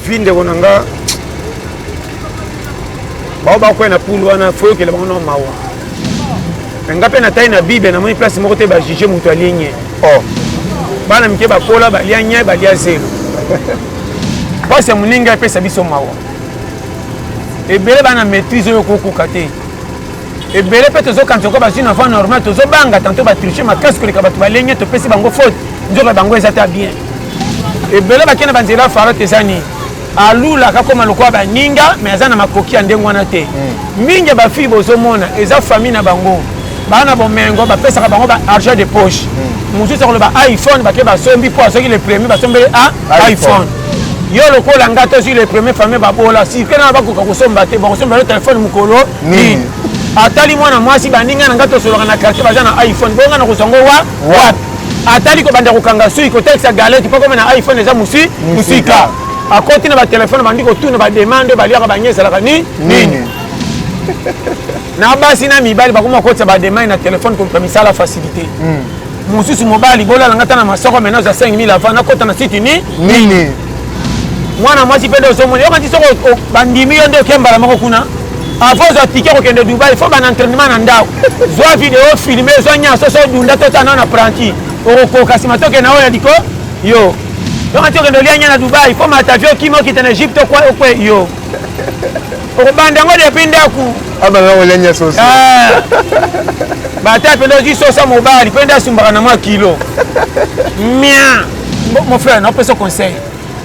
vi ndeko na nga bao bakwai na pulu wana fo yokela bango na mawa me nga mpe natali na bible namoni place moko te bajuge moto alie nye o oh. bana mike bakola balia nye balia zelo mpasi ya moninga epesa biso mawa ebele bana maîtrise oyo kokoka te ebele mpe tozokanisa ko bazwi na voie normal tozobanga tanto batriche makasi koleka bato balenge topesi bango faute nzoka bango eza ta bien ebele bakei na banzela ya farote eza nini alula akakoma lokola baninga me aza na makoki ya ndenge wana te hmm. mingi ya bafille bozomona eza famille na bango baa na bomengo bapesaka bango ba argent de poche hmm. mosusu akoloba iphone bake basombi mpo azwaki le premier basombeli a ah, iphone yo lokola nga tozwi le premier famille babola sike na bakoka kosomba te bakosomba yo telefone mokolo nini atali mwana mwasi baninga na ngai tosolaka na quartier baza na iphone bongo ngai nakozwa ngo wa wapi atali kobanda kokanga sui kotekisa galete mpo koma na iphone eza mosi mosika akoti na batelefone bandi kotuna bademande oyo baliaka bangi ezalaka ni nini na basi na mibali bakoma kokotisa bademande na telefone koluka misala facilité hmm. mosusu mobali bolalanga ata na masoko mena oza 5000 avant nakota na site ni nini mwana mwasi mpe nde ozomona yokanti soko bandimi yo nde oke mbala moko kuna avant ozwa tike kokende dubai fo bana entrainement na ndako zwa video filme zwa nyonso so dunda tota nao na pranti okokoka nsima toke na oyo ya liko yo yokanti okende olia nya na dubai fo matavio okima okita na egypte okwe yo okobanda yango depuis ndako abanda kolenya soso ah. bata mpenza ozwi sosa mobali mpe nde asumbaka na mwa kilo mia mon frère napesa conseil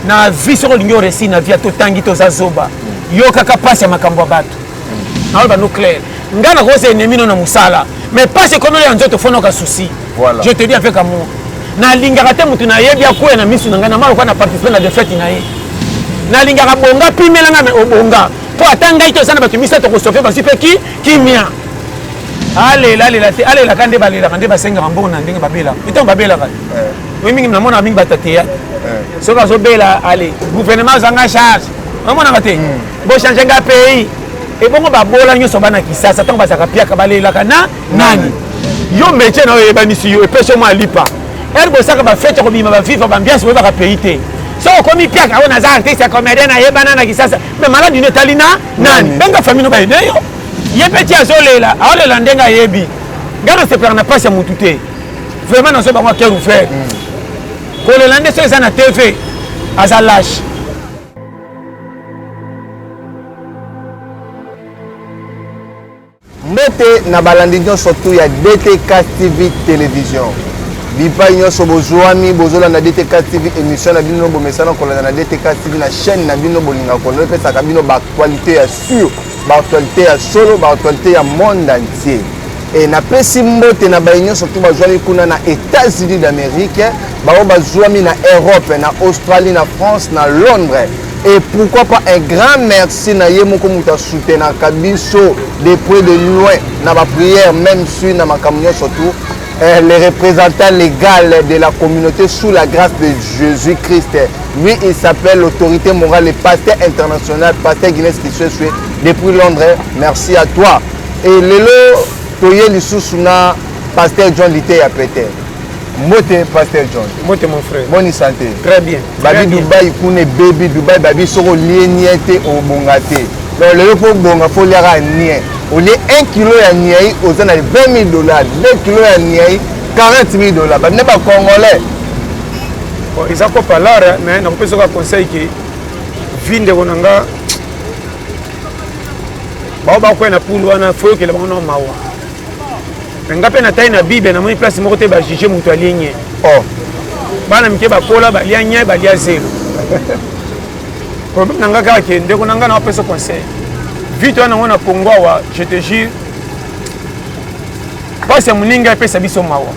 na vie soki olingi oresi na vie totangi toza zoba yokaka mpasi ya makambo ya bato naoyo bano claire ngai nakosa enemi no na mosala mais pasi ekomeli ya nzoto fonoka souci voilà. je te dis avec amour nalingaka te motu nayebi akwea na misu na ngai na maloka na participe na defete na ye nalingaka bonga pimela ngai mais obonga mpo ata ngai te oza na bato misato kosofe bazwi mpe ki kimia alela alela te alelaka nde balelaka nde basengaka mbongo na ndenge babelaka ntango babelaka eh. oyi mingi namonaka mingi bato ya teyate eh. soki azobela ale gouvernement azanga charge omonaka te hmm. bochange nga pays ebongo babola nyonso bana kisasa ntango bazalaka piaka balelaka na nani yo metie na yo eyebanisi yo epesi yo mwa lipa ere bosaka bafete kobima baviva bambiance boyebaka pays te so okomi piaka oyo naza artiste ya comédien nayebana na kisasa me maladi no etali na nani benga famille no bayede yo ye mpe ti azolela aolela ndenge ayebi ngai nasepelaka na mpasi ya motu te vraiment nazo bango aker ouvert mm. kolela nde so eza na tv aza lâche mbote na balandi nyonso tu ya dtk tv television bipai nyonso bozwami bozolanda dtk tv émission na bino bomesana kolanda na dtk tv na chaîne na bino bolinga kolanda epesaka bino baactualité ya sur baactualité ya solo baactualité ya monde entier E, napesi mbote na baye nyonso to bazwami kuna na Etats-Unis d'Amerique, baoyo bazwami na Europe, na Australie, na France, na Londres. Et pourquoi pas un grand merci na ye moko moto asoutenaka biso de près de loin na baprière même sui na makambo nyonso tu eh, le représentant légal de la communauté sous la grâce de Jésus-Christ. Lui, il s'appelle l'autorité morale, le pasteur international, pasteur Guinness qui se suit depuis Londres. Merci à toi. Et lelo toye lisusu na Pasteur John Liteya Pete. Mbote Pasteur John. Mbote mon frère. Bonne santé. Très bien. Babi Dubaï kune baby Dubaï babi soko lie nie te obonga te. Donc lelo faut bonga faut liaka nie. Olie 1 kilo ya niei oza na 20 000 dollars, 2 kilo ya niei 40 000 dollars. Babi na ba congolais. Bon, eza ko palara mais nakopesa ka conseil ke vie ndeko na nga bao bakwei na pundu wana foyokela bango na mawa me nga mpe na tai na bible namoni place moko te bajuge moto alie nye oh. bana mike bakola balia nye balia zelo problème na nga kaka ke ndeko na nga na opesa conseil vite wana yango na congo awa je te jure mpasi ya moninga epesa biso mawa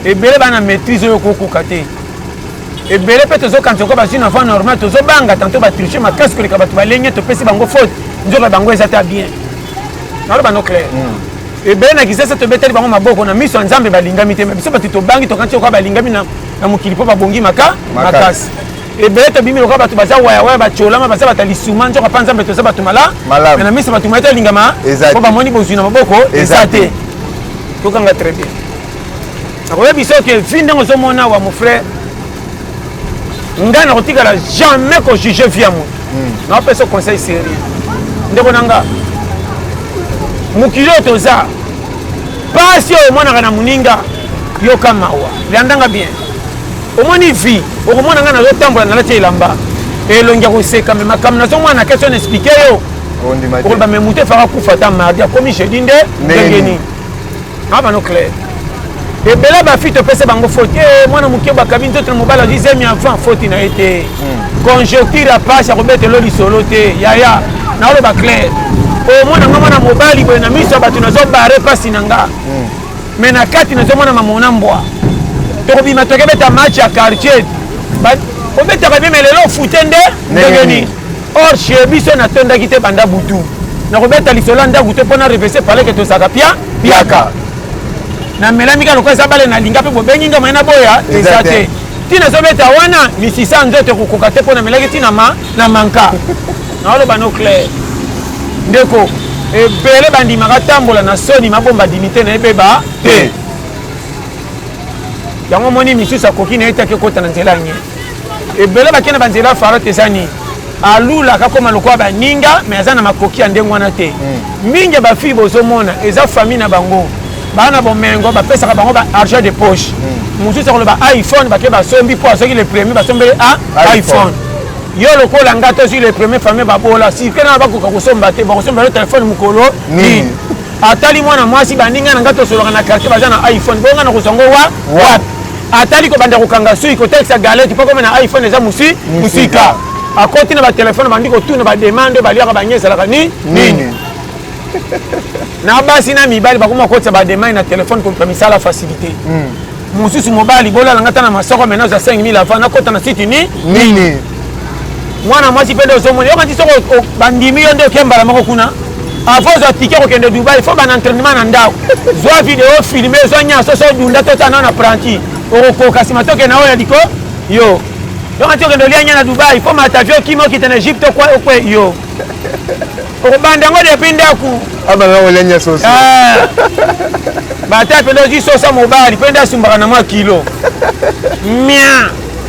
ebele bana maîtrise oyo okokoka te ebele mpe tozokanisa ko bazwi na voie normal tozobanga tanto batriche makasi koleka bato balenge topesi bango faute nzoka bango eza ta bien naloba no claire hmm. ebele na kisasa tobeteli bango maboko na miso ya nzambe balingami te biso bato tobangi tokanisi lokola balingami na mokili mpo babongi maka makasi ebele tobimi lokola bato baza wayawaya bacolama baza bato ya lisuma nzoka mpa nzambe toza bato mala na miso bato maye tolingama mpo bamoni bozwi na maboko eza te tokanga très bien nakoyebisa oke vi ndenge ozomona awa mon frère ngai nakotikala jamais kojuge vi ya moto hmm. naopesa conseil sérieux ndeko na nga mokili oyo toza mpasi oyo omonaka na moninga yoka mawa landanga bien omoni vi okomona ngai nazotambola nalati elamba elongi ya koseka me makambo nazomona na question na explike yo okolobame moto efaka kufa ata mardi akomi jeudi nde ndenge nini abano claire ebele bafi topesa bango foti eh, mwana moke bakabi nzoto na mobali azwi zemi avant foti na ye te hmm. conjoncture ya pasi akobetelo lisolo te yaya naoloba claire omona nga mwana mobali boye na miso ya bato nazobare mpasi na nga me hmm. na kati nazomona mamona mbwa tokobima tokebeta match ya quartier obetaka bime lelo ofute nde ndenge nini or chez biso natondaki te banda butu nakobeta lisolo ya ndako te mpo na revese paleke tozalaka pia piaka namelami kaka lokola eza bale nalinga mpe bobengi nga mai naboya eza te ntina ezobeta wana misisa nzoto ekokoka te mpo namelaki ntina ma na manka naoloba no claire ndeko ebele bandimaka tambola na soni mabomba dimite na ebeba te yango omoni misusu akoki na ye te akekota na nzela nye ebele bakende banzela fara te eza nini alula akakoma lokola baninga me aza na makoki ya ndenge wana te hmm. mingi ya bafille bozomona eza famille na bango baa na bomengo bapesaka bango ba argent de poche hmm. mosusu akoloba iphone bake basombi mpo azwaki le premier basombeli a ah, iphone yo lokola nga tozwi le premier famille babola sike na bakoka kosomba te bakosomba yo telefone mokolo nini atali mwana mwasi baninga na ngai tosolaka na quartier baza na iphone bonga na kozwa ngo wa wapi atali kobanda kokanga sui kotekisa galete mpo kome na iphone eza mosi mosika akoti na batelefone bandi kotuna bademande oyo baliaka bangi ezalaka ni nini na basi na mibali bakomi bakotisa bademande na telefone koluka misala facilité hmm. mosusu mobali bolala nga ta na masoko mena oza 5000 avant nakota na site ni nini mwana mwasi mpe nde ozomona yokanisi soko bandimi yo nde oke mbala moko kuna avant ozwa tike kokende dubai fo bana entrainement na ndako zwa video filme zwa nyonso so dunda to tana na apprenti okokoka nsima toke na oyo ya liko yo yokanisi okende olia nya na dubai fo matavio okima okita na egypte okwe yo okobanda yango depuis ndako abanda ah, olia nya soso ah. bata mpe nde ozwi sosa mobali mpe nde asumbaka na mwa kilo mia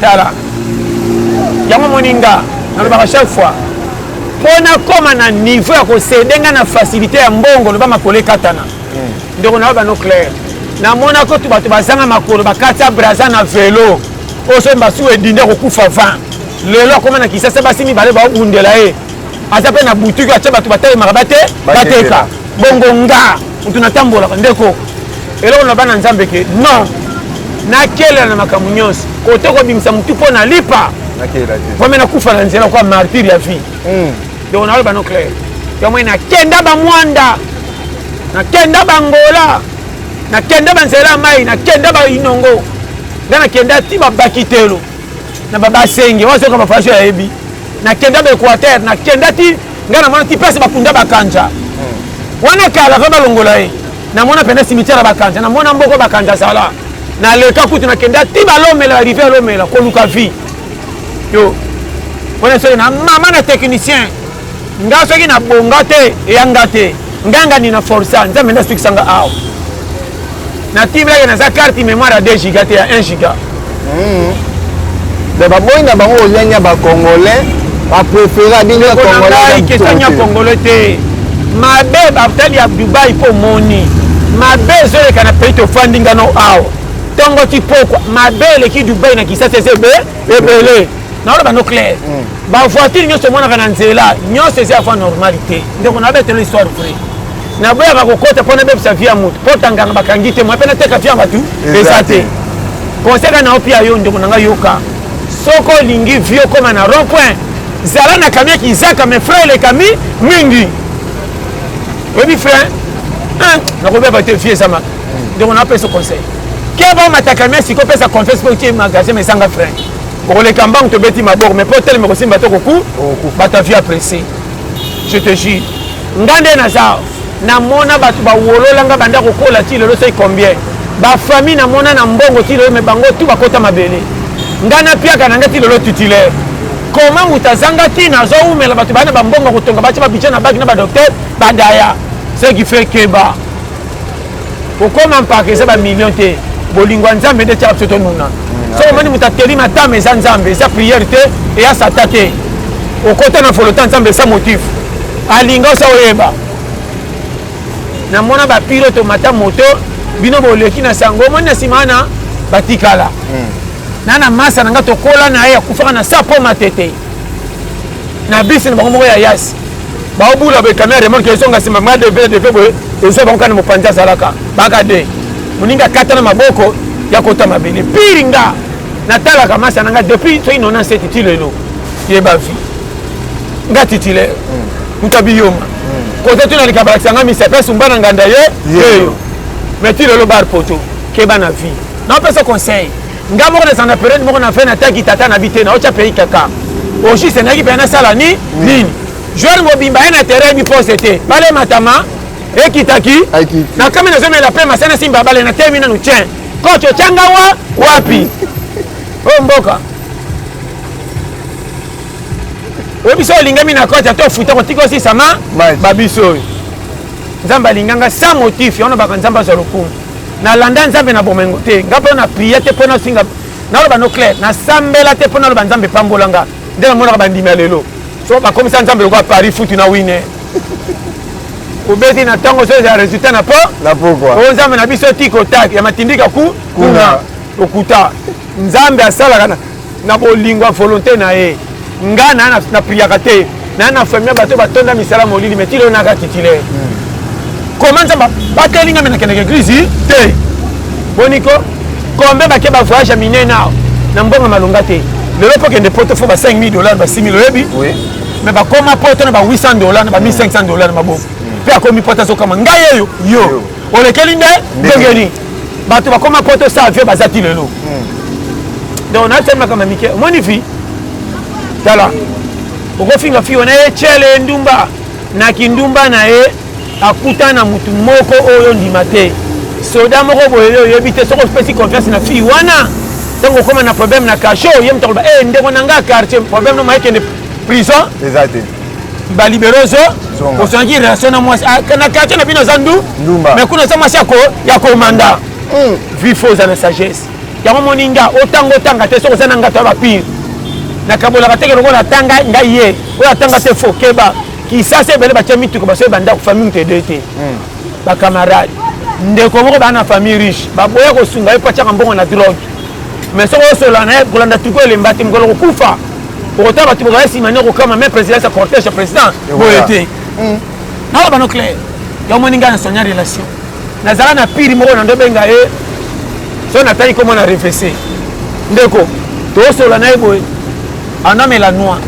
tala yango moni nga nalobaka chaque fois mpo nakóma na niveau ya kosede nga na facilité ya mbongo loba makolo ekatana hmm. ndeko na yo bano claire namonaki otu bato bazanga makolo bakati ya braza na velo oyo soki basuku edindi akokufa 20 lelo akoma na kisasa basi mibale baobundela ye aza mpe na butuki atya bato batalemaka bate bateka bongo nga moto natambolaka ndeko eloko na bana nzambe ke non nakelela na makambo nyonso kote kobimisa motu mpo na lipa vraimen nakufa na nzela kwa martyre ya vie hmm. donc naloba no claire yango nakenda bamwanda nakenda bangola nakenda banzela ya mai nakenda bainongo ngai nakenda ti babakitelo na babasenge wazoka bafaso yayebi nakenda baequateur nakenda ti ngai namonaki place bakunda bakanja hmm. wana kala va balongola ye namona pene cimetière ya bakanja namona mboko bakanja zala naleka kutu nakenda ti balomela rive alomela koluka vie yo wana soki na mama na technicien nga soki nabonga te eya nga te nganga nina forsa nzambe nde asukisanga awa na ti blage naza carte mémoire ya 2 giga te ya 1 giga hmm. donc baboyi na bango olenya bacongolais bapréféra bino question ya congolais te mabe batali ya dubai mpo omoni mabe ezoleka na pays tofandi ngano awa ntongo ti pokwa mabe eleki dubai na kisasa eza ebe ebele naoloba no claire hmm. bavoitire nyonso omonaka na nzela nyonso eza ya voie normalité ndeko na babetelo histoire vrai naboyaka kokota mpo nabebisa vie ya moto mpo tanganga bakangi te moye mpe nateka vie ya bato eza te konseka na opi ya yo ndeko na ngai yoka soko olingi vie okoma na rond point zala na kamia kizaka me frai elekami mingi oyebi frai nakobeba te vie eza maka ndeko na opesa conseil keba omata kamia siko opesa confiance mpo otie magasin ma ezanga frai okoleka mbangu tobeti maboko me mpo otelema kosimba to koku bata vie aprecie je te jure nga nde naza namona bato bawolola nga banda kokola ti lelo soki combien bafamille namona na mbongo ti lelo me bango tu bakota mabele nga napiaka na nga ti lelo titulaire koma moto azanga ntina azowumela bato baa na bambongo kotonga batya babidja na baki na badokter bandaya ce qui fait keba kokoma mpaka eza bamillion te bolingo ya nzambe nde etyaka biso tonuna mm, soki omoni moto ateli matama eza nzambe eza priere te eya sata te okota na volota nzambe eza motif alinga osa oyeba namona bapilote omata moto bino boleki na sango omoni na nsima wana batikala mm. na na masa na ngai tokola na ye akufaka na sapo matete na bisi na bango moko ya yasi baobula boye kamera remorke ezonga nsima ma deve deve boye ezwa bango kana mopanzi azalaka baka de moninga akata na maboko ya kota mabele pire nga natalaka masa na nga depuis soki nona se titi lelo yeba vie nga titile moto abiyoma kote tuna lika balakisa nga misa mpe sumba na nganda ye yeyo mais ti lelo bar poto keba na vie napesa conseil nga moko nazala na periode moko na fin nataki tata na bi te naotya pays kaka oshi esengaki mpe nasala ni mm. nini joueur mobimba ye na terrain yebi pose te bale matama ekitaki na kami nazomela mpe masana simba bale na temi nanu tien coach otyanga wa wapi oyo oh, mboka oyo biso olingami na coach ata ofuta kotika osisama babiso oyo nzambe alinganga sans motif yango nabaka nzambe azwa lokumu na landa nzambe na bomoi ngo te nga mpe na priya te mpo nafinga naloba no claire nasambela te mpo naloba nzambe epambola nga nde namonaka bandimi ya lelo so bakomisa nzambe lokola paris futu na wine obeti na ntango ozo ezala resultat na po na pokwa oyo nzambe na biso tiko tak ya matindika ku kuna okuta nzambe asalaka na na bolingo ya volonte na ye nga na na priaka te na na famille ya bato batonda misala molili me tilo naka titile koma nzambe bateli ngai me nakendaka eglise te boniko kombe bake bavoyage ya minene awa na mbongo malonga te lelo mpo kende poto fo ba 5000 dollars ba 6000 oyebi me bakoma poto na ba 800 dollars na ba 1500 dollars na maboko mpe akomi poto azokama ngai eyo yo olekeli nde ndenge nini bato bakoma poto sa vie baza ti lelo hmm. donc natiami makambo ya mike omoni fi tala okofinga fi wana ye cele ndumba na kindumba na ye akuta na motu moko oyo ondima te soda moko boye yo oyebi te soki opesi confiance na fille wana ntango okoma na problème na cachot ye moto akoloba e eh, ndeko na ngai quartier problème no mayekende prison eza te baliberozo ozwaki relation na mwasi ah, na quartier na bino aza ndu mais kuna aza mwasi ya komanda hmm. vifo oza na sagesse yango moni nga otanga otanga te soki oza na ngato ya bapire nakabolaka teke lokola atanga ngai ye oyo atanga te fo keba kisasa ebele batya mituka basoki bandako famille moto edoye te hmm. bacamarade ndeko moko baa na famille riche baboya kosunga ye mpo atyaka mbongo na drogue mais soki osola na ye kolanda tuko elemba te mokolo kokufa okotala bato bokaya nsima nde okokama me président eza cortège ya président boye te naloba no claire ya omoni ngai na sonia relation nazala na piri moko na ndobenga ye so natali komo na refese ndeko tosola na ye boye anamela noir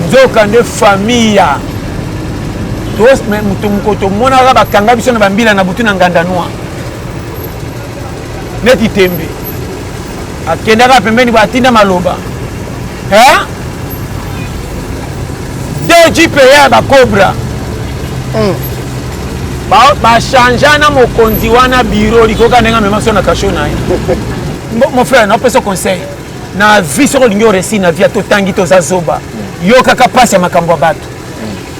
nzoka nde famille ya moto mokoto omonaka bakanga biso na bambila na butu na nganda noir neti tembe akendaka pembeni batinda maloba eh? dgpa ya bacobra mm. bachangea ba na mokonzi wana biro likoka ndenge amema so na kasho na ye mon frère napesa conseil na vie soki olingi oresi na vie totangi toza zoba yokaka mpasi ya makambo ya bato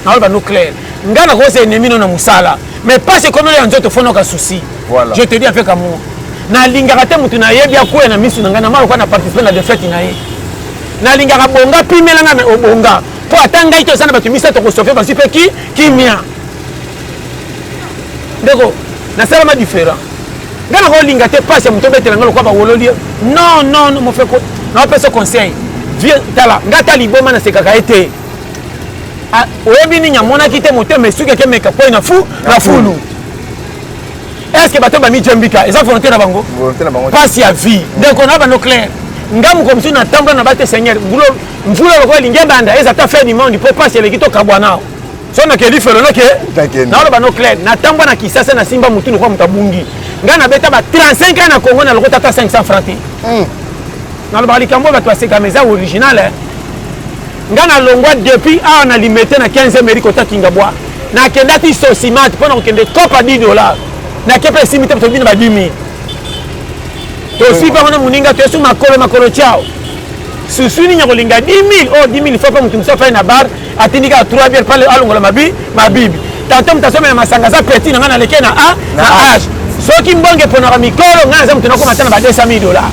naoyo bano claire ngai nakosa enemi no na mosala mais pasi ekomelo ya nzoto fonoka souci voilà. je te dis avec amour nalingaka te motu nayebi akwea na miso na ngai na mwa lokola na participe na defete na ye nalingaka bonga pimela ngai mais obonga mpo ata ngai te oza na bato misato kosofe bazwi mpe ki kimia ndeko nasalama différent ngai nakolinga te pasi ya moto obetela ngai lokola bawololi non non mofeko naopesa conseil vie tala ngai ata liboma nasekaka ye te Ah, oyebi nini amonaki te motema esuki ake meka poi na fu na fulu est ce que bato bamijembika eza volonté na bango mpasi ya vie ndeko na bano claire nga moko mosusu natambola na bate seigneur mvula lokola elingi ebanda eza ata fin du monde mpo mpasi eleki tokabwa nao so nakeli felo noke naoloba no claire natambwa na kisasa nasimba motu lokola moto abungi ngai nabeta ba 35 ans na congo na lokota ata 500 franc te hmm. nalobaka likambo oyo bato basekama eza original eh. Nga na longwa depuis awa na limete na 15 meri kota kingabwa nakendaki sosimate mpo na kokende copa 10 dollar nakepe esimi te tobina ba 10 mille tosui bango na moninga toyesu makolo makolo ciao susu nini ya kolinga 10 mille oyo 10 mille fo mpe moto mosusu afai na bar atindi kaka 3 biere pale alongola mabi mabibi tanto moto asomela masanga aza petit na ngai naleke na a na age soki mbonge eponaka mikolo ngai naza moto nakoma ata na ba 200 mille dollar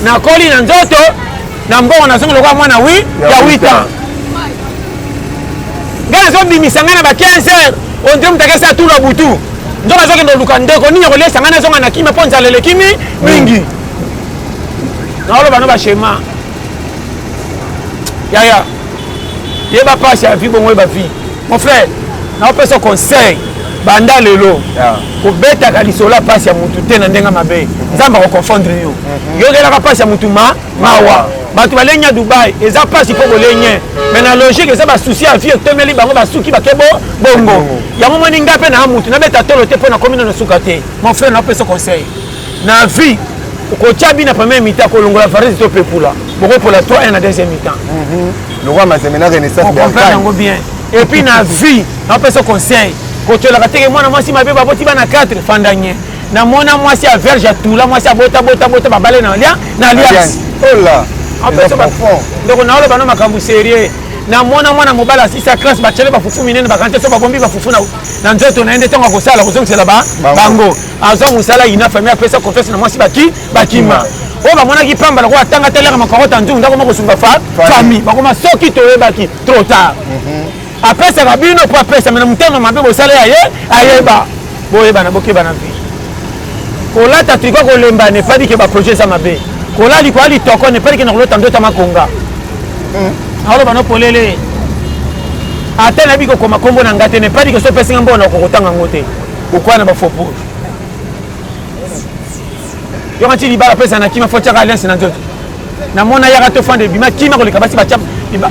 nakoli na nzoto na mbongo nazongi lokola mwana wi ya 8 ans ngai nazobimisa ngai na ba 15 heures ondire moto akesa tula butu nzoka azokende oluka ndeko nini akoliesa ngai nazonga na kima mpo nzala eleki mingi naoloba no bashema yaya yeba mpasi ya vi bongo yeba vi mon frère naopesa conseil banda lelo ah. kobetaka lisolo ya mpasi ya motu te na ndenge mabe nzambe akoconfondre yo mhm. yokelaka mpasi ya motu ma mawa bato balengi ya dubai eza mpasi mpo bolenye mai na logique eza basusi ya vie etomeli bango basuki bake bongo mhm. yango moni ngai mpe na ya motu nabeta tolo te mpo nakomi no na suka te mon frère naopesa conseil na vie kotia bina première mi-temps kolongola varese to pepula bokopola 3 1 na deuxième mi-temps mhm. lokwa mazembe na renaissance comprendre yango bien et puis na vie napesa conseil kotyolaka teke mwana mwasi mabe baboti bana 4 fandanye namona mwasi ya verge ya tula mwasi ya bota bota bota babale na lia na lias ola oh ndoko naoloba no makambo serieux namona mwana mobali asisa classe batiale bafufu minene bakanti so babombi bafufu na nzoto na ye nde ntango akosala kozongisela bango azwa mosala ina famille apesa confiance na mwasi baki bakima oyo bamonaki pamba lokola atanga telaka makarota nzungu ndako moko sunga fa famille bakoma soki toyebaki trop tard mhm. apesaka bino mpo apesa me na motema mabe bosala ya ye ayeba boyebana bokebana vi kolata triko kolemba nefadi ke baprojet eza mabe kola likola litoko nefadi ke na kolota ndota makonga mhm. aoloba no polele ata nayebi kokoma nkombo na ngai te nefadi ke so opesinga mbona okokotanga yango te Pourquoi na ba faux pour? Yoko ti libala pesa na kima fotia ka lens na nzoto. Na mona yaka to fande bima kima ko likabasi ba chap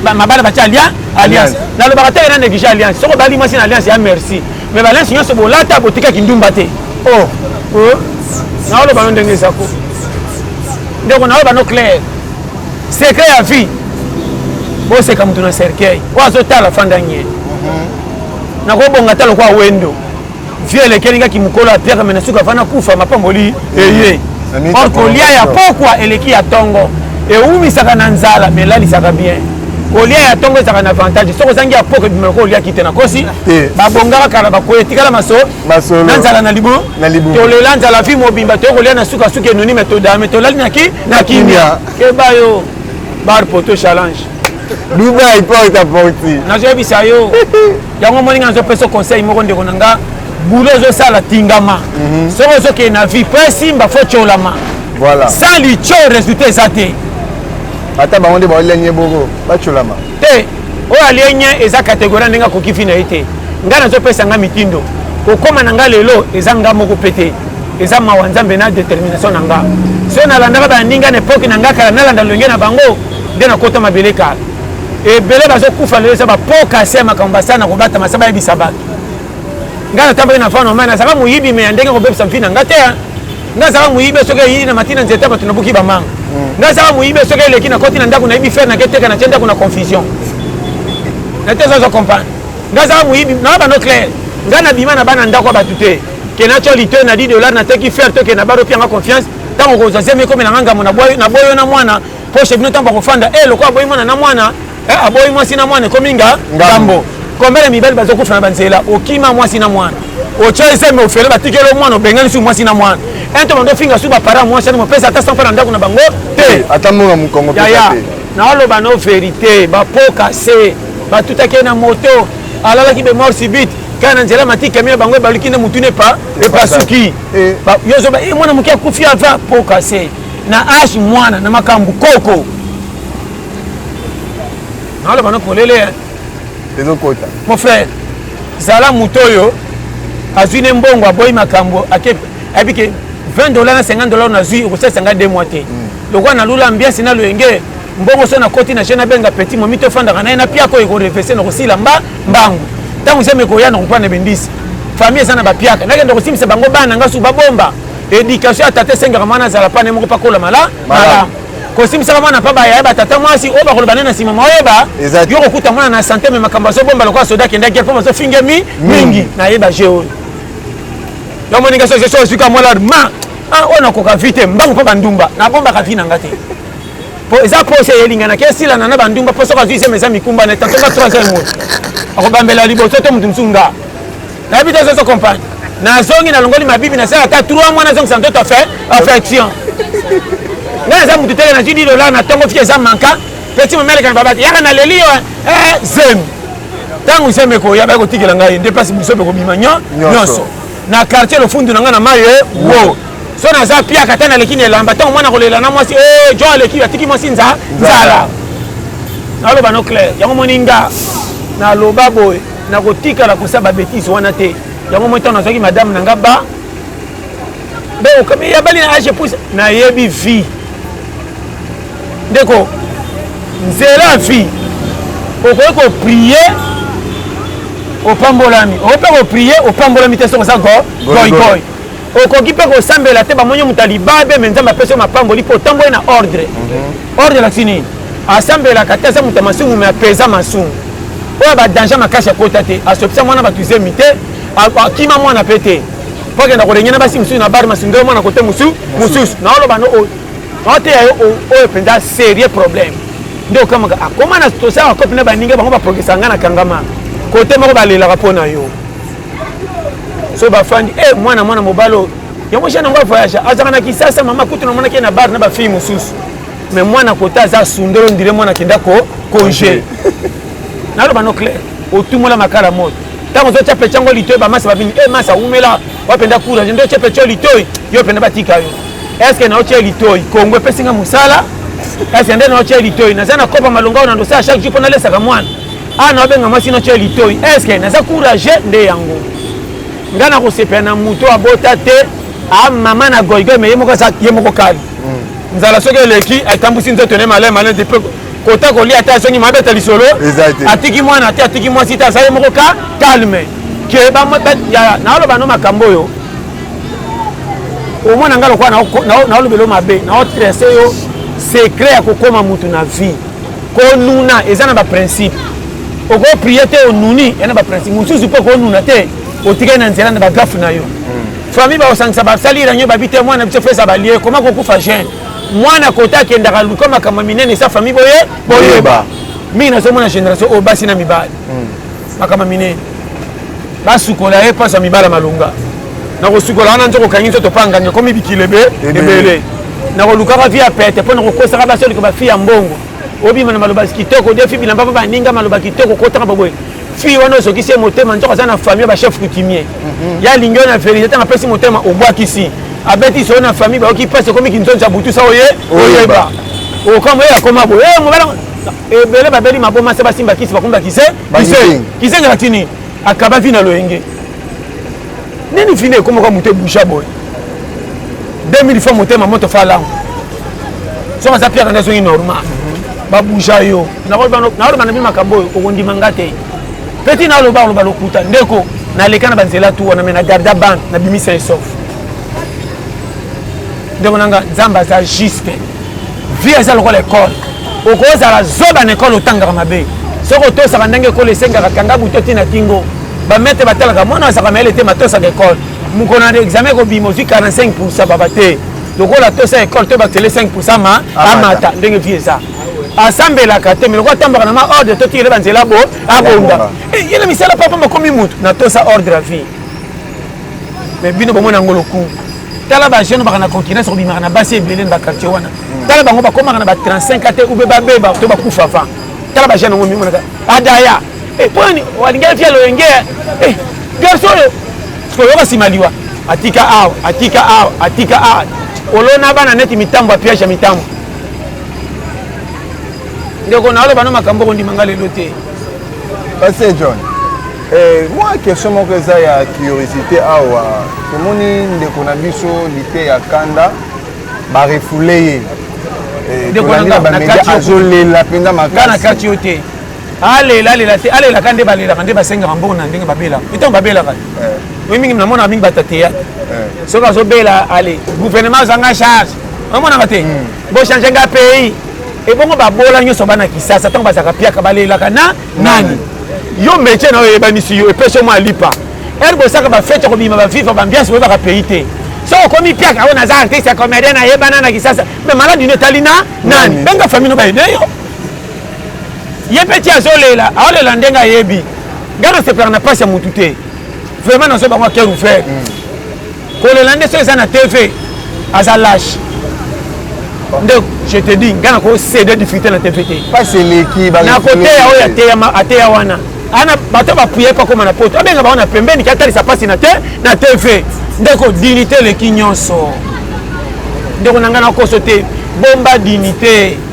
mabala ba cha lia alliance. Na lo bakata na neglige alliance. Soko bali mwasi na alliance ya merci. Mais ba lens nyoso bolata botika kindumba te. Oh. Oh. Na lo ba ndenge zako. Ndeko na lo ba no clair. Secret ya vie. Boseka mutu na cercueil. Oyo azotala fanda nye. nakobonga ata lokola wendo vie elekeli nga kimokolo ya pierre me na suka vana kufa mapamboli eye or kolia ya pokwa eleki ya tongo ewumisaka na nzala me elalisaka bien kolia ya tongo ezalaka na avantage soki ozangi ya pokwa ebima lokola oliaki te nakosi babongaka kala bakoya etikala maso na nzala na libu tolela nzala vi mobimba toye kolia na sukasuka enuni me todame tolali na kimia keba yo bar poto challenge dubai mpo ota porti nazoyebisa yo yango omoni nga nazopesa conseil moko ndeko na nga bulo ozosala tingama mhm. soki ozokende na vie mpo esimba fo tiolama voilà. sans litio résultat eza te ata bango nde baolenye boko batiolama te oyo alienye eza kategorie ndenge akoki fi na ye te ngai nazopesa ngai mitindo kokóma na ngai lelo eza ngai moko mpe te eza mawa nzambe na détermination na ngai so nalandaka baninga na epoke na ngai kala nalanda lolenge na bango nde nakota mabele kala ebele bazokufa lelo eza bapokasi ya makambo basala na kobatama sa bayebisa bato ngai natambaki na fana mai nazalaka moyibi me ya ndenge kobebisa mfi na ngai te ngai azalaka moyibi soki eyii na mati na nzete bato nabuki bamanga mm. ngai azalaka moyibi soki eleki nakoti na ndako nayebi fere naketeka natye ndako na confusion nate ezazo comprendre ngai azalaka moyibi naa bano claire ngai nabima na bana ndako ya bato te ke natyo lite na 10 dollar nateki fere to ke na baro pianga confiance ntango kozwa zemi ekomela nga ngambo na boyo na mwana po chez bino ntango bakofanda e eh, lokola aboyi mwana na mwana eh, aboyi mwasi na mwana ekomi nga ngambo kombele mibali bazokufa na banzela okima mwasi na mwana otya eseme ofele batikeli o mwana obengani su mwasi na mwana ento bando ofinga su bapara mwasi ani mopesa ata sanfa na ndako na bango te ata monga mokongo yaya naoloba no verité bapoka se batutaki ye na moto alalaki bemor subite kaka na nzela matiki yami ya bango ebaluki nde motuna epa epasuki eh. yo zoba eh, mwana moke akufi ava poka se na age mwana na makambo koko naoloba na polele ezokota mon frère zala moto oyo azwi ne mbongo aboyi makambo ake ayebi ke 20 dollar na 50 dollar nazwi ekosalisa ngai de mois te mm. lokola nalula ambiance na loyenge mbongo so nakoti na je nabenga petit momi tofandaka na ye na piaka oyo ekorefese na kosila mba mbangu ntango zemi ekoya na kopana bendisi famille eza na bapiaka nakende kosimbisa bango bana ngai su babomba Education ya tata esengaka mwana azala pa ne moko pakola mala malamu kosimbisaka mwana pa baya yeba tata mwasi oyo bakoloba ne na nsima maoyeba yo kokuta mwana na sante me makambo azobomba lokola soda akenda gere mpo bazofingemi mingi nayeba je oyo yo moninga soki soki ozwika mwana ma ah, oyo nakoka vi te mbangu mpo bandumba nabombaka vi na nga te mpo eza mposa eyelinganaki esilana na bandumba mpo soki azwi sema eza mikumba na etantonga 3 heures moto akobambela liboso te moto mosusu nga nayebi te zozo compagne nazongi nalongoli mabibi nasala ata 3 mois nazongisa nzoto affection nga naza motu tele nazwi di dolar na ntongo fika eza manka peti momeleka na babaki yaka naleli yo eh, zemi ntango zemi ekoya baya kotikela ngai nde mpasi biso mpe kobima nyonso na quartier lofundu na ngai na mayo eh, wo so naza piaka ata naleki na elamba ntango mwana kolela na mwasi eh, jo aleki atiki mwasi nzala naloba no claire yango moni nga naloba boye nakotikala kosa ba betise wana te yango moi ntango nazwaki madame na nga ba beokomi yabali na age pousa nayebi vie ndeko nzela vie okoki koprie opambolami okoki mpe koprie opambolami te soki oza goigoi okoki mpe kosambela te bamoni moto ya libabe me nzambe apesi yo mapamboli mpo otamboli na ordre mhm. ordre elakisi nini asambelaka te aza moto ya masumu me apeza masumu oyo badanger makasi akota te asopisa mwana bato zemi te akima mwana mpe te mpo akenda kolengena basi mosusu na bare masundelo mwana kote mosusu mosusu naoloba no oyo naoteya yo oyo mpenza serieux problème nde okamaka akoma na tosala bakopi na baninga bango baprogresa ngai na kangama kote moko balelaka mpo na yo so bafandi e eh, mwana mwana mobali oyo yango jeune yango avoyage azalaka na kisasa mama kutu namonaki ye na bar na bafille mosusu me mwana kota aza sundolo ndire mwana akenda ko conge naloba no claire otumola makala moto ntango ozotya pecha yango litoi bamasa babini e eh, masa awumela wapenda courage nde otya pecha litoi yo mpenza batika yo estce naotya litoi kongo epesi nga mosala kasi nde naotya litoi naza na kopa malonga oyo na ndosa ya chaque jour mpo nalesaka mwana awa naobenga mwasi natyo ya litoi eske naza courage nde yango ngai nakosepela na moto abota te amama ah, na goigoi me ye moko aza ye moko kali hmm. nzala soki eleki atambusi nzoto ne malai malai te mpe kota kolia te azongi mabeta lisolo atiki mwana te atiki mwasi te aza ye moko ka calme ke naoloba no makambo oyo omona ngai lokola naolobelo mabe naotrese yo secret ya kokoma motu na vie konuna eza na baprincipe okoprie te onuni ya na baprincipe mosusu mpe okonuna te otikali na nzela na bagafe na yo hmm. famille bakosangisa basali ranio babi te mwana biso fesa balie koma kokufa jeune mwana kota akendaka luka makambo minene esa famille boye boyeba mingi nazomona génération oyo basi na mibali hmm. makama mine basukola ye mpasi ya mibala malonga nakosukola wana nzoko okangi nzoto pangani ekomi bikilo ebele nakolukaka vi ya pete mpo nakokosaka basi oliko bafi ya mbongo obima na maloba kitoko defi bilamba mpo baninga maloba kitoko kotaka baboye fille wana ozokisi ye motema nzoko aza na famille bachef coutumier mhm. ya alingi yo na verité ntango apesi motema obwakisi abetisi oyo na famille bayoki mpasi ekomi kinzonzi ya butusa oye oyeba okambo ye akoma boye eh, mobala ebele babeli maboma se basimba kisi bakomi bakize kizenga na tini akaba vi na loyenge nini fini ekomoka moto ebusha boye 2000 fois motema moto fa lango soki aza piaka nde azongi normal babusha yo naoloba na bi makambo oyo okondima nga te peti naloba oloba lokuta ndeko naleka na banzela tu wana me na garda bande nabimisa esof ndeko na nga nzambe aza juste vie eza lokola ekole okozala zoba na ekole otangaka mabe soki otosaka ndenge ekole esengaka kanga buto ti na kingo bamete batalaka mwana azalaka mayele te matosaka ekole mokolo na examen ekobima ozwi 45 pourcent baba te lokola tosa ekole to batele 5 pourcent ma amata ndenge vie eza asambelaka te me lokola atambaka na ma ordre to tikele banzela bo abonda eh, ye na misala papa makomi motu natosa ordre ya vie mais bino bomona yango lokumu tala bajeune baka na concurrence kobimaka na basi ebele na baquartier wana hmm. tala bango bakomaka na ba 35 ate ube babeba to bakufa va tala bajeune yango mimonaka adaya eh, poni walingi afia loyenge eh, garso oyo koyoka nsima liwa atika awa atika awa atika awa olona bana neti mitambo apiage ya mitambo ndeko naoloba no makambo okondima nga lelo te pase john Eh, mwa question moko eza ya curiosité awa tomoni ndeko na biso lite ya kanda barefule ye eh, tolandi na bamedia azolela mpenza makasi na kati yo te alela alela te alelaka nde balelaka nde basengaka mbongo na ndenge babelaka ntango babelaka eh. oyi mingi namonaka mingi bato ya teyatre soki azobela ale gouvernement azanga charge omonaka te hmm. bochange nga pays ebongo babola nyonso bana kisasa ntango bazalaka piaka balelaka na nani yo metie na yo eyebanisi yo epesi yo mwa lipa ere bosaka bafete ya kobima baviva bambiance boyebaka pays te soki okomi piaka oyo naza artiste ya comédien nayebana na kisasa me maladi no etali na nani benga famille no bayede yo ye mpe ti azolela aolela ndenge ayebi ngai nasepelaka na mpasi ya motu te vraiment nazo bango aker ouvert mm. kolela nde so eza na tv aza lage nde je te dis ngai nakosede difficulté na tv te nakoteya oyo ateya wana ana bato bapuye mpe akóma na poto abenga bango na pembeni ke atalisa mpasi na te na tv ndeko dinite eleki nyonso ndeko na ngai nakoso te bomba dinite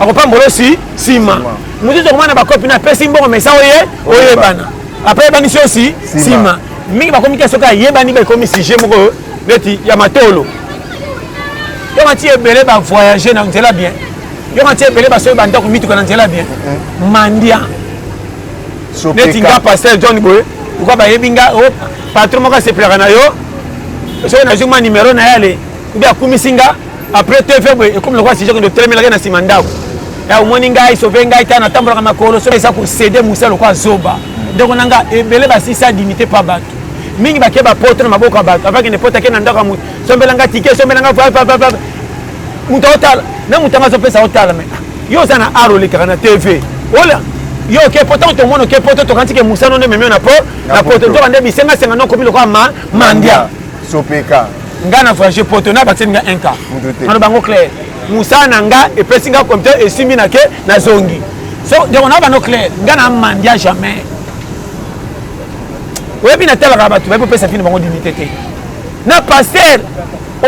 akopambola osi nsima mosusu okomona bakopi na apesi mbongo mesa oye oyebana apres yebanisi osi nsima mingi bakomi te soki ayebani baekomi sujet moko neti ya matolo yo mati ebele bavoyage na nzela bien yo mati ebele basoki bandako mituka na nzela bien mhm. mandia neti nga pasteur john boye lokola bayebi nga oh, patron moko asepelaka na yo soki nazwi mwa numero na ye ale obi akumisi nga après te faible ekomi lokola sujet kende otelemelaki na nsima ndako ya omoni ngai sauve ngai ta natambolaka makolo soki eza kosede mosa lokola zoba ndeko na nga ebele basisa dignité pa bato mingi bake bapoto na maboko ya bato avakende poto ake na ndako ya moto sombela nga tike sombela nga vavavava moto aotala na moto yango azopesa otala me yo oza na art olekaka na tv ola yo oke poto ntango tomona oke poto tokanisi ke mosano nde memio na po na poto nzoka nde bisengasenga nde okomi lokola mandia sopeka nga na voyage poto na bakiseli nga un cas ano bango claire mosala na nga epesi nga computer esimbi na ke nazongi so ndeko na bano claire nga na mandia jamais oyebi natalaka bato bayebi kopesa fini bango dignité te na paster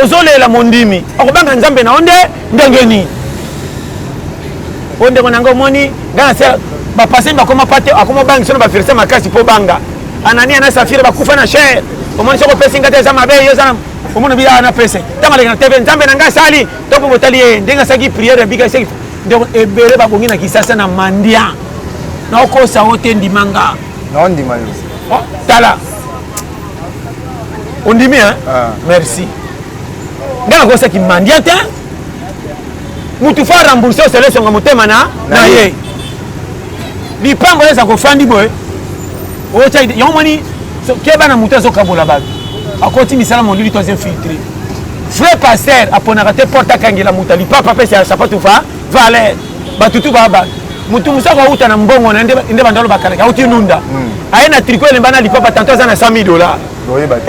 ozolela mondimi okobanga nzambe na yo nde ndenge nini oyo ndeko na nga omoni nga na se bapaseni bakoma pate akoma obangisa na baverse makasi mpo banga Anania na Safira bakufa na chair. Omoni soko pesi ngata eza mabe yo eza omoni bi ana pese. Tanga leka na TV Nzambe na ngai sali. To ko botali ye ndenge asaki prière ya bika seki. Ndeko ebele ba bongi na kisasa na mandia. Na okosa ote ndimanga. Na ondima yo. Oh, tala. Ondimi hein? Ah. Merci. Ngana kosa ki mandia te. Mutu fa rembourser sele songa motema na na ye. lipango eza kofandi boye otia yango moni keba na moto azokabola bato akoti misala molili to azinfiltre vrai pasteur aponaka te porte akangela moto alipapa apesi ya sapatu va valer bato tu baba motu mosu akouta na mbongo na nde bandalo bakalaki auti nunda hmm. aye na triko elemba na lipapa tanto aza na 100 000 dollar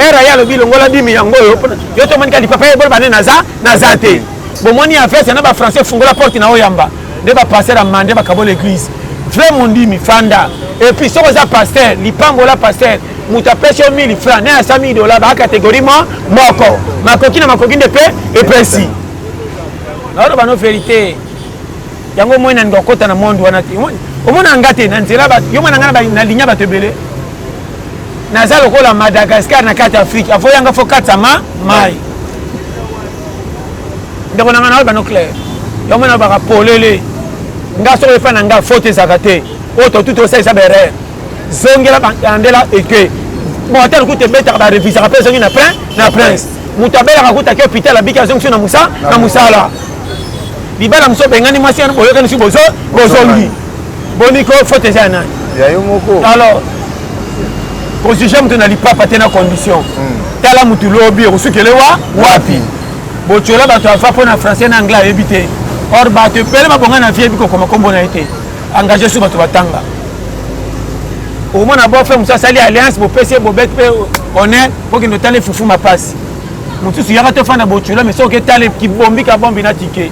era ye alobi longola dimi yango oyo yo tomonika lipapa ye bolo bane naza naza te bomoni ya vese na bafrançais fungola porte na oyamba nde ba pasteur ya mande bakabola eglise vrai mondimi fanda epuis soki oza pasteur lipambola pasteur moto apesi yo 1000 franc naye asa 1000 dola baa kategori mo moko makoki na makoki nde mpe epesi naoloba no verité yango moi naninga kokota na monde wana te omona nga te na nzela yo mwana nga na linya bato ebele naza lokola madagascar na kati afrique avoyanga fo katama mai ndeko na ngai naoyeba no claire yango mwana baka polele nga soko efa na nga faute ezalaka te oyo totuti osalisa berere zongela bandela eke motel kuta ebetaka barevisaka mpe ezongi na prin na prince moto abelaka kuta ke hopital abiki azongisi na mosala na mosala libala mosusu obengani mwasi boyokanisi bozongi boni ko faute eza ya nani ya yo moko alors kojuge moto na lipapa te na condition hmm. tala motu lobi okosukele wa wapi botyola bato afa mpo na français na anglais ayebi te or bato ebele babonga na vie eyebi kokoma nkombo na ye te engage su bato batanga omona bofe mosu asali alliance bopesi ye bobete mpe honneur bokende otala efufu mapasi mosusu yaka tofanda botyola me soki etala kibombi kabombi na tike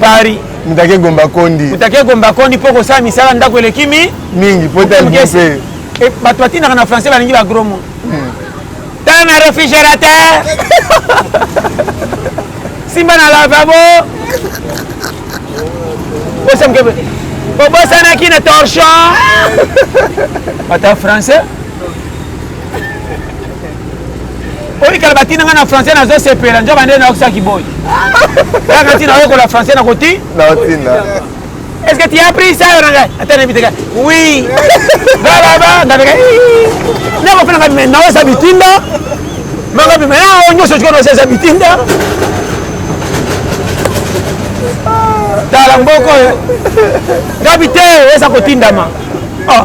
Paris. Mutake Gomba Kondi. Mutake Gomba Kondi mpo kosala misala ndako eleki mi mingi mpo ete mpe bato batindaka na français balingi ba gros mot tala na réfrigérateur simba na lavabo osemkebe obosanaki na torchon ata français oyi kala batina nga na français nazo sepela nzoba nde naokisa kiboyi kaka ntina oyekola français nakoti naotina est ce que tu as pris ça yo nanga ata nayebi teka oui balaba ngabeka nakofela ngabi mai naosa bitinda mangabi mai nao nyonso tiko naosesa bitinda tala mboko oyo ngabi te eza kotindama oh.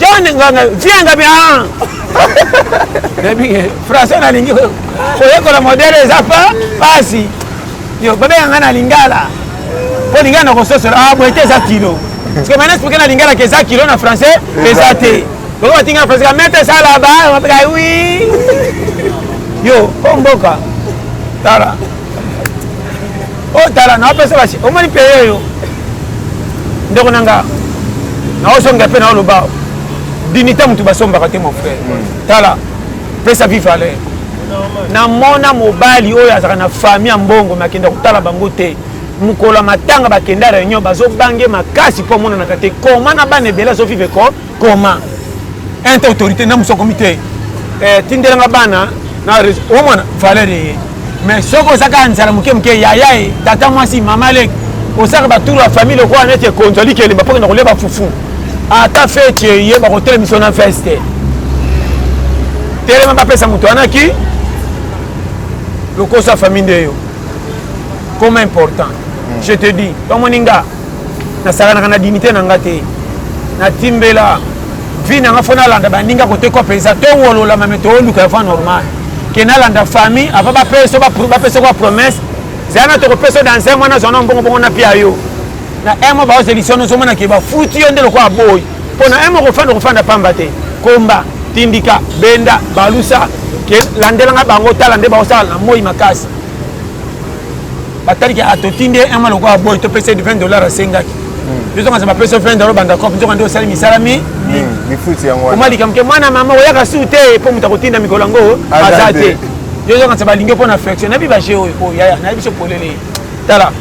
John Nganga, viens nga bien. Nabi français na lingi koyekola modèle eza pa pasi. Yo babenga nga na lingala. Po lingala na kososola ah boye te eza kilo. Parce que maintenant expliquer na lingala que eza kilo na français eza te. Boko batinga français ka mette ça là-bas, on va oui. Yo, po mboka. Tala. oyo oh, tala naopesa basi omoni peye oyo ndeko na nga naosonga mpe naoloba dinita motu basombaka te mon frère hmm. tala pesa vi valeur namona mobali oyo azalaka na famille ya mbongo me akenda kotala bango te mokolo ya matanga bakenda réunion bazobange makasi mpo amonanaka te koma na bana ebele azovivre ko comment un te autorité na muso akomi te eh, tindelanga bana na omona valeur eye mais soki oza kaka nzala moke moke yaya ye tata mwasi mama leki osaka batour ya famille lokola neti ekonzo alikelemba mpo kenda kolia bafufu ata feti eye bakotelemisa na fese te telema bapesa moto wana ki lokoso ya famille nde yo comme important hmm. je te dis tomoni nga nasakanaka na dignité na nga te natimbela vie na nga fo nalanda baninga kotekwa mpenza towololama me tooluka avant normal ke nalanda famille avant bapesa bapesa kwa promesse zala na tokopesa dans un mois nazwa na mbongo bongo napia yo na un mois baozelisi ono ozomona ke bafuti yo nde lokola boyi mpo na un mois kofanda okofanda pamba te komba tindika benda balusa ke landelanga bango tala nde baosala na moi makasi bataliki atotindi ye un mois lokola boy topesa ye 20 dollars asengaki tozongasa bapesa 20 dollars banda cop nzoka nde osali misala mi oma likambo ke mwana mama oyaka su te mpo moto akotinda mikolo yango aza te yozongasa balingi mpo na flexion nayebi baje oyo oyo yaya nayebi so polele tala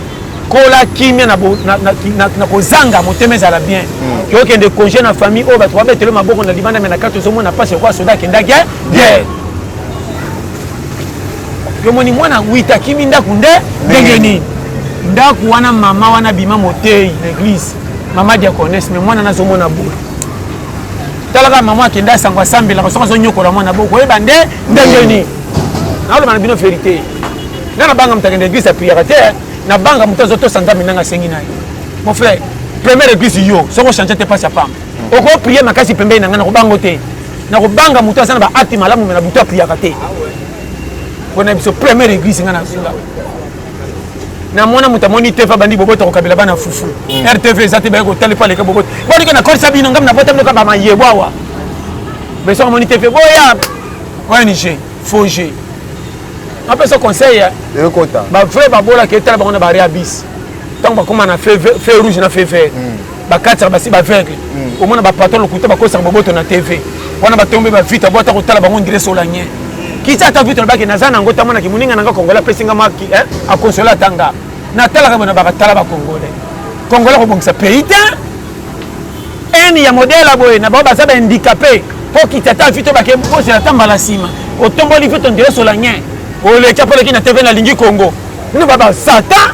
kola kimia na kozanga motema ezala bien okende congé na famille oyo bato babetelo maboko na libanda me na kati ozomona mpasi lokola soda akendaki guerre yomoni mwana wita akimi ndako nde ndenge nini ndako wana mama wana abima moteyi na eglise mama diaconese me mwana nazomona boye talaka mama akende asango asambelaka soki azonyokola mwana bo koyeba nde ndenge nini naoloba na bino verité nga nabanga moto akende eglise apriere te nabanga moto azotosa nzambe ndenge asengi na ye mon frère première eglise yo soki ochange te mpasi ya pamba oko prier makasi pembeni na ngai nakobango te nakobanga moto aza na baakte malamu me na butu apriyaka te mpona biso première église ngai nazula na mwana moto amoni tv abandi bobota kokabela bana fufu mm. rtv eza te baye kotali paleka bobota bonike nakolisa bino ngai nabota bino kaka mayebo awa beso amoni tv boya ong faux jeu napesa conseil bavrai babolaka etala bango na bareabis ntango bakóma na fe rouge na fe vert mm. bakataka basi baveugle mm. omona bapatron lokuta bakosaka boboto na tv wana batombe bavita bo ata kotala bango ndire solanien kita ata vita lobaki naza na yango tamonaki moninga na nga kongola apesi nga maki eh, akonsola ata nga natalaka bona bakatala bakongole kongola kobongisa pays te eni ya modele ya boye na bango baza bahandikape mpo kita ata vita obake bozela ata mbala nsima otomboli vita ndire solanien oleki apoleki na tv nalingi kongo bino babasata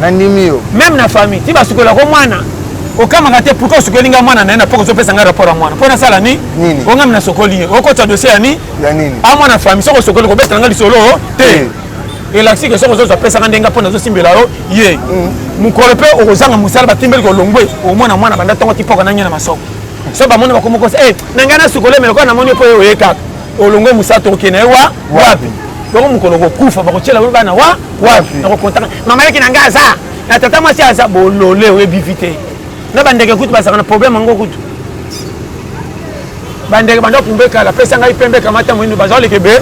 nandimi yo meme na famille ti basukola ko mwana okamaka te pourkui osukoli ngai mwana na ye na poko ozopesa ngai rapport ya mwana mpo nasala ni ongami nasokoli ye okotisa dosie ya ni amwana famille soki osokoli kobetela ngai lisolo te elakisi ke soki ozozwa pesaka ndenge mpo nazosimbela yo ye mm. mokolo mpe okozanga mosala batimbeli kolongwe omona mwana banda ntongo tipoka nange na masoko so bamoni bakomokosa e eh, na ngai nasukoli me lokola namoni mpo ye oye kaka olongwe mosala tokokende ye wa wapi loko mokolo okokufa bakotyela bana wa wapi nakokontaka mama leki na ngai aza na tata mwasi aza bolole oyebi vi te na bandeke kutu bazalaka na problème yango kutu bandeke banda kumba ekala pesa ngai pembe kamata moindo baza koleka ebe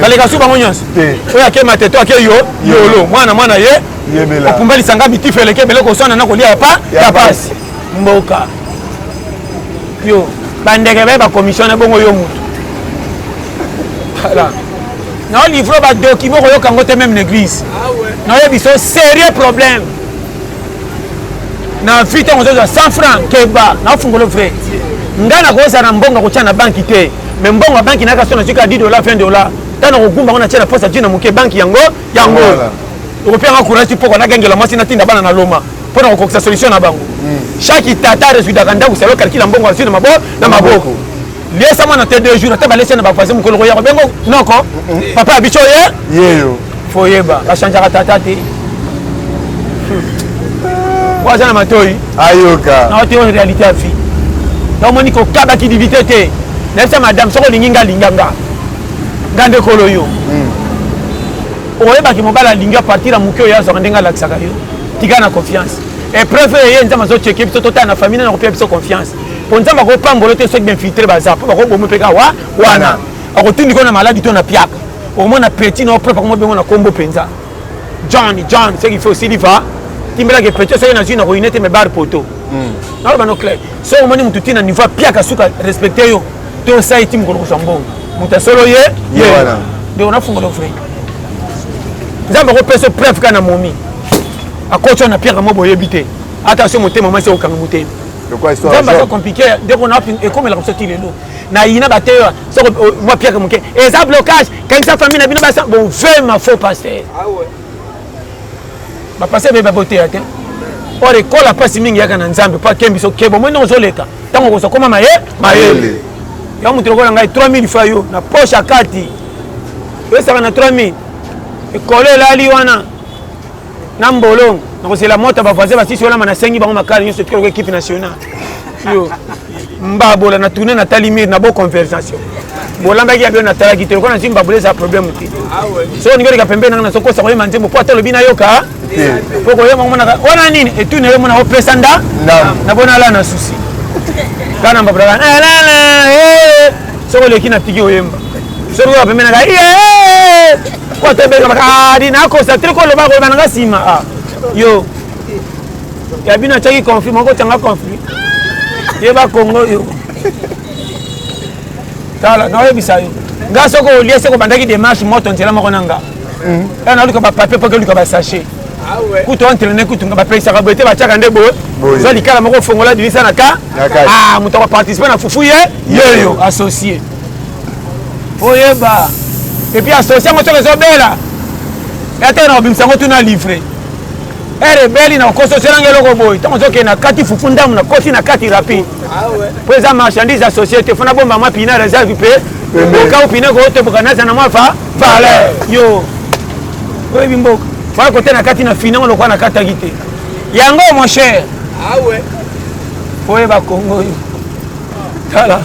baleka su bango nyonso oyo ake mateto ake yo yolo mwana mwana ye okumba lisanga mitifu eleki ebele koswana na kolia yapa ya pasi mboka yo bandeke baye bakomissione bongo yo motu voilà nao livre ba document okoyoka yango te meme na église naoyebi so sérieux problème na vie ntango ozozwa 100 franc keba naofungolo vrai ngai nakozala na mbongo akotya na banki te mais mbongo ya banki nayaka so nazwi kaka 10 dollar 20 dollar ntango nakogumba yango natya na posa jina moke banki yango yango okopianga courage mpoko nagangela mwasi natinda bana na loma mpo na kokokisa solution na bango hmm. chaque tata resudaka ndako salo kalkila mbongo azwi na maboko liesa mwana te deux jours ata balesi na bavoisin mokolo koya kobengo noko papa ya biso ye yeyo foyeba bachangeaka tata te po aza na matoi ayoka naote oyo réalité ya vie tomoni kokabaki divité te nayebisa madame soki olingi nga alinga nga nga nde kolo yo hmm. okoyebaki mobali alingi apartir ya moke oyo azwaka ndenge alakisaka yo tika na confiance epreuve eye nzambe azoceke biso totala na famille na nakopia biso confiance mpo nzambe akopambola te soki bainfiltre baza mpo bakoboma mpe kaka wa wana akotundi ko na maladi to na piaka okomona peti na oprepa koma bengo na nkombo mpenza john john soki fo osili va timbelaki peti soki nazwi na koyine te me bar poto hmm. naloba no clair soki omoni motu ti na niveau apiaka suka respecte yo to osai ti mokolo kozwa mbongo moto ya solo ye ye nde onafungola ofre nzambe akopesa yo preuve kaka na momi akotya na piaka mo boyebi te ata so motema mwasi okanga motema nzambe aza compliqué ndeko na ekomelaka biso ti lelo na yina bateya soko oh, mwa piaka moke eza blocage kangisa famille na bino basa bovema faux paster ah bapaster bebe baboteya te or ekola mpasi mingi yaka na nzambe mpo akembi biso kebo moi ndenge ozoleka ntango okozokoma maye mayele ya moto lokola ngai 3000 fa yo na poche akati oyesaka na 3000 ekolo elali wana na mbolongo nakozela moto ba voisin basisi olama nasengi bango makala nyonso etikala ko ekipe nationale yo mbabola na tourne natali mire na bo conversation bolandaki ya bino natalaki te lokola nazwi mbabola eza problème te ah so olingi oleka pembeni nanga nazokosa koyema nzembo mpo ata olobi nayoka mpo koyema omonaka wana nini etuni nayo omona opesa nda na bona ala na susi kaka na mbabola kaka eh, soki oleki na tiki oyemba soki oya pembeni naka Kwa to beka maka ah di na ko sa te ko loba ko na nga sima ah. Yo. Ya bino chaki conflit moko tanga conflit. Ye ba Congo yo. Tala na yebisa yo. Nga soko olie soko bandaki démarche moto nzela moko na nga. Mm. Ya na luka ba papier po ke luka ba sachet. Ah kutu entraîne kutu nga bapekisaka boye te batiaka nde boye oza likala moko ofongola dilisa na ka ah, moto akoparticipe na fufu ye yeyo associe oyeba epuis asosi yango soki ezobela yatee na kobimisa yango tuna livre ere ebeli na kokosi oselanga eloko boye ntango ozokende na kati fufu ndambo na koti na kati rapide mpo ah eza marchandise ya société fona bomba mwa pina reserve mpe okau pina kootoboka naza na mwa va valeur yo oyebi mboka faa kote na kati na finango lokola nakataki te yango mon cher ah oyeba kongo yo tala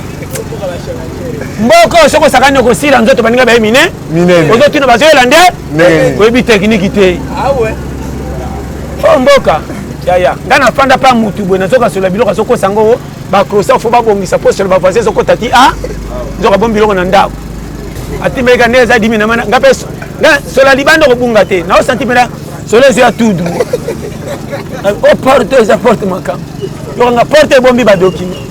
mboka oyo soki osakani okosila nzoto baninga baye mine ozotuna bazoyela nde oyebi tekiniki te ah o oh, mboka yaya ngai nafanda mpa mutu boye nazokasola biloko azokosa yango bacrosa fo babongisa mpo solo bavoisi ezokota ti a nzoka bomi biloko na ndako atimeleka nde eza dimi namana ngai mpe sola libanda okobunga te naosanti mpena solo ezo ya tudu o porte eza porte makambo yokanga porte ebombi badokima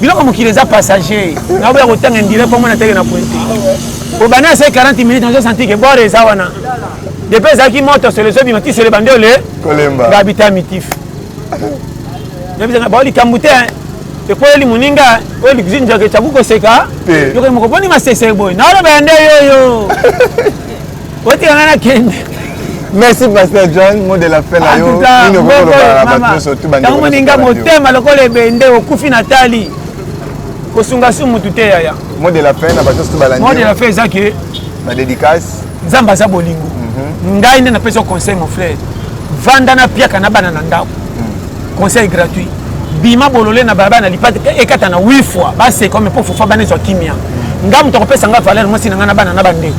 biloko mokili eza passager naboya kotanga ndire mpo mona teke na pointe obanda se 40 minutes nazo santi ke bore eza wana depuis ezalaki moto solo ezobima ti solo ebandi ole babita mitif nabisanga bao likambo te ekweli moninga oyo likuzi njaka ecaku koseka yokoki moko boni masese boye naoloba ya nde yoyo otika ngai nakende merci pasteur john mot de la fin na yo nini okoki koloba na bato nyonso tu bantango moninga motema lokola ebende okufi na tali kosunga su motu te yaya mot de la fin na bato nyonso tu balandi mot de la fin eza ke na dédicace nzambe aza bolingo mhm. ngai nde napesi yo conseil mon frère vanda na piaka na bana na ndako conseil gratuit bima bolole na balabala na lipate ekata na 8 fois baseka me mpo fufa bana ezwa kimia nga moto akopesa nga valeur mwasi na nga na bana na bandeko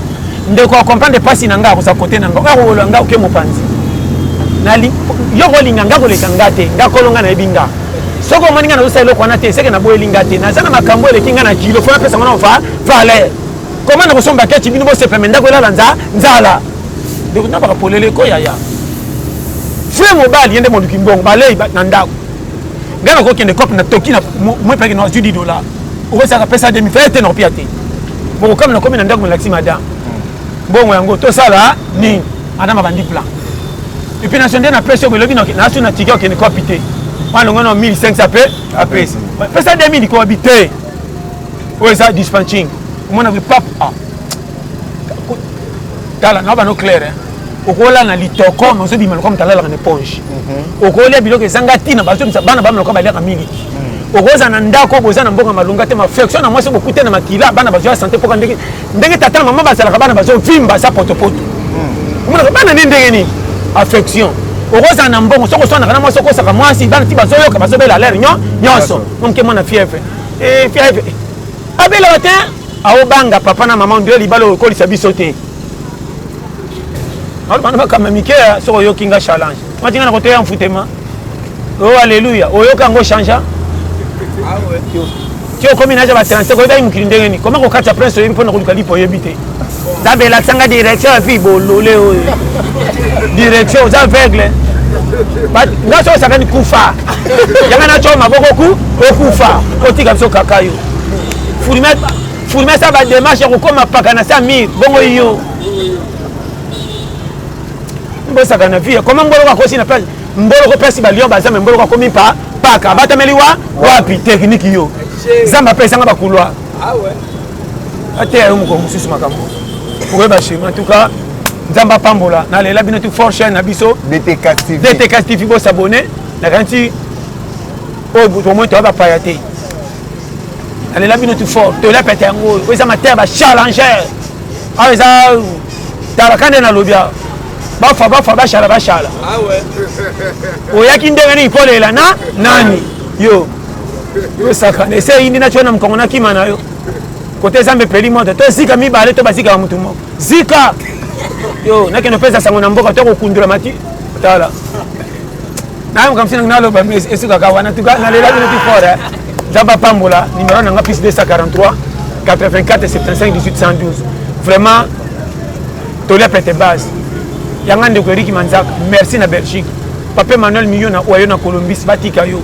ndeko akomprendre mpasi na nga akoza kote na nga oyo akowolola nga oke mopanzi yo kolinga nga koleka nga te nga kolo nga nayebi nga soki omoni nga nazosala eloko wana te eseke naboyeli nga te naza na makambo eleki nga na kilo fo napesa ngo na valeur koma na kosomba kechi bino bosepeme ndako elala nzala ndeko na baka polele ko yaya vrai mobali ye nde moluki mbongo balei na ndako ngai nakokende cope na toki na mwepaki na azwi 10 dollar okosaka pesa demi fai te nakopia te bokokami nakomi na ndako melakisi madame mbongo yango tosala nini madame abandi plan epuis naso nde napesi yo belobi naso na tiki okende kopi te wana longo na 1500 mpe apesi pesa 2000 kobi te oyo eza dispatching omona epape a ah. tala na bano claire hein. okola na litoko mais ozobima lokola moto alalaka na eponge mhm. okolia biloko ezanga ntina bazobimisa bana bamela lokola baliaka miliki mhm. okoza na ndako boza na mboka malonga te maflexion na mwasi bokute na makila bana bazwa sante mpoka ndenge ndenge tata na mama bazalaka bana bazovimba za potopoto mhm. omonaka bana nde ndenge nini affection okozala na mbongo soki oswanaka na mwasi okosaka mwasi bana ti bazoyoka bazobela lere nyonso moke mwana fievre eh, fievre abela ba te aobanga papa na mama ndio libala okolisa biso te alobana bakamba mike soki oyoki nga challenge matinga na koteya mfutema o oh, aleluya oyoka yango changea ti okomi naja ba 35 oyebaki mokili ndenge nini koma kokatya prince oyebi mpo na koluka lipo oyebi te Nzambe lakisa nga direction ya fille bolole oyo. Direction oza aveugle. Nga so osakani kufa. Yanga na choma boko ku okufa. Otika biso kaka yo. Fulime fulime sa ba démarche ya kokoma paka na sa mire bongo yo. Mbosaka na vie. Comment mbolo akosi na place? Mbolo ko pesi ba lion ba zame mbolo akomi pa paka. Batameli wa wapi technique yo. Zamba pesa nga ba couloir. Ah ouais. ateya yo mokolo mosusu makambo okoyeba shema tuka nzambe apambola nalela bino tu fort chaine na biso dtk tv bosabone nakanisi oyo tomoi toya bapaya te nalela bino tu fort tolela pete yango oyo oyo eza mateya bachallenger awa eza talaka nde nalobi awa bafa bafa bashala bashala ah oyaki ndenge nini kolela na nani yo tosaka na ese eyindi na tiona mokongo na kima na yo kote zambe epeli moto tozika mibale to bazikaka motu moko zika yo nakende opesa sango na mboka to kokundola mati tala nayo makambo sinango naloba mais esukaka wana tuka nalela bino ti fort nzambe apambola numero na nga plus 243 84 75 1812 vraiment tolia pete base yanga ndeko eriki manzaka merci na belgique pape manuel miyo na oyo na colombis batika yo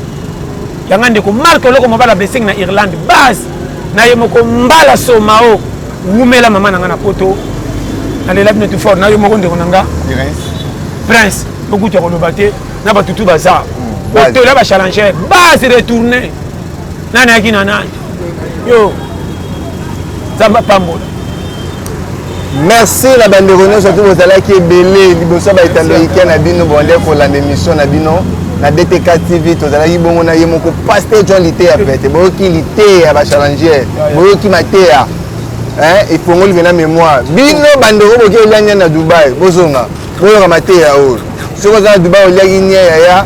yanga ndeko mark oloko mobala blessing na irlande base na ye moko mbala somao wumela mama na nga na poto nalela bino tu fort na yo moko ndeko na nga prince bokutu ya koloba te na batutu baza hmm, otola bachallenger base retourne nani ayaki na nani yo nzambe apambola merci na bandeko nyonso tu bozalaki ebele liboso ya baetando ikia na bino bonde kolanda émission na bino na dtk tv tozalaki bongo na ye moko paster john liteya pete boyoki liteya bachallenger boyoki mateya efongoli mpena mémoire bino bandeko boki eliania na dubai bozonga boyoka mateya oyo soki oza na dubai oliaki nie yaya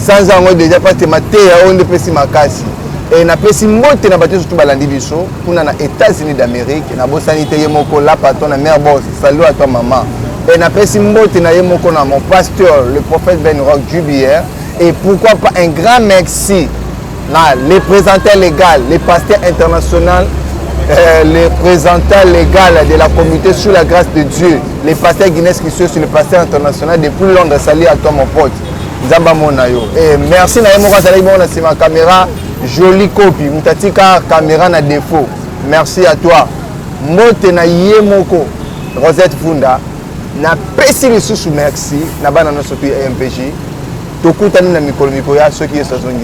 sanza yango deja pate mateya oyo nde epesi makasi e, napesi mbote na bato surtout balandi biso kuna na états-unis d'amérique nabosani te ye moko lapaton na mare bos salut à toi maman e, napesi mbote na ye moko na mon pasteur le prophète ben rock jubier et pourquoi pas un grand merci Na le présentant légal, le pasteur international, euh, le présentant légal de la communauté sous la grâce de Dieu, le pasteur Guinness Christian, le pasteur international depuis Londres, salut à toi mon pote. Nzamba Monayo. Et merci na yemoko azali bongo na sima caméra jolie copie mutatika caméra na défaut. Merci à toi. Mbote na yemoko Rosette Funda na pesi lisusu merci na bana nyonso tu MPJ tokutani na mikolo mikoya soki yesu azongi